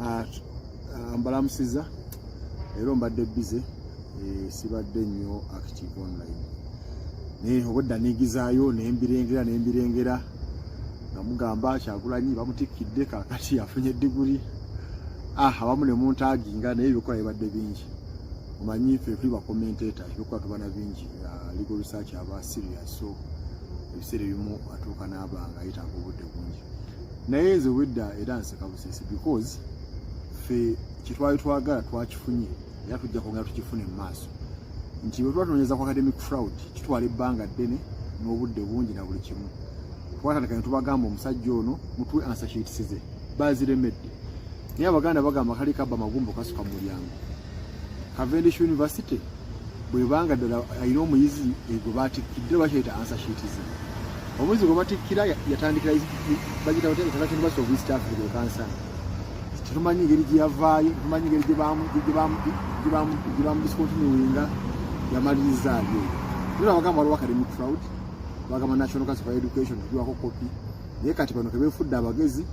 Ah, ah, mbalamusiza leero mbadde bize eh, sibadde nnyo active online naye obwedda negizaayo nembirengera nembirengera nga mugamba kyagulanyi bamutikkidde kakati afunye diguli ah, abamu ne muntaginga naye ebikola bibadde bingi omanyi ffe tuli bakomenteta ebikola tubana bingi ah, legal research aba serious so ebiseera ebimu atuuka n'abanga yetaaga obudde bungi naye nze wedda era nseka busesi because fe kyetwali twagala twakifunye era tujja kwongera tukifune mu maaso nti bwe tuba tunonyeza ku academic fraud kitwala ebbanga ddene n'obudde bungi na buli kimu twatandika ne tubagamba omusajja ono mutuwe ansashitisize baziremedde naye abaganda bagamba kali kaba magumbo kasuka mu mulyango Cavendish University bwebanga ddala alina omuyizi egwe batikkidde bakyayita ansa shiitizi omuyizi gwe batikkira yatandikira bagita batya international university of east africa ekansa tetumanyi ngeri gye yavaayo tetumanyi ngeri gye bamudiscontinuinga yamaliriza alyo era bagamba waliwo academic fraud bagamba national council for education tugiwako kopi naye kati bano kebefudde abagezi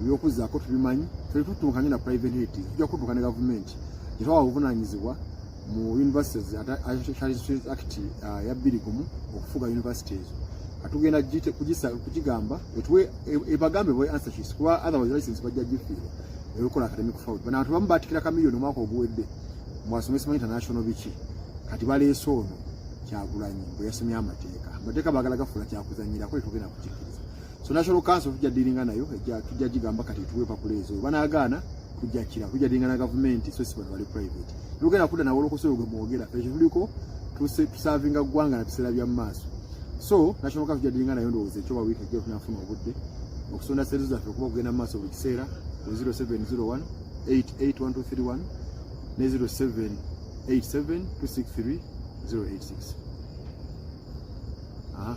ebyokuzaako tubimanyi fere tutunkanye na private hate tujja kutuuka ne gavumenti gyetwawa obuvunanyizibwa mu universities act uh, ya bbiri gumu okufuga university ezo atugenda kugigamba etuwe ebagambe boy answer sheets kuba otherwise license bajja gifiirwa ebikola academic fraud bana bantu bamu batikira kamiliyoni omwaka oguwedde mwasomesa mu international biki kati baleese ono kyagulanyi bwe yasomye amateeka amateeka bagala gafuula kyakuzanyirako etugenda so national council tujja dealinga nayo ejja tujja jigamba kati tuwe pakula ezo banagaana tujja kira tujja dealinga na government so si bali private lugenda kuda na wolo kusoro gwe mwogera ekyo tuliko tuse tusavinga gwanga na bisera bya maso so national council tujja dealinga nayo ndoze ekyo bawita je tunafuna obudde okusonda sezo za tukuba kugenda maso buli kisera 0701 881231 ne 07 87 263 086 Aha,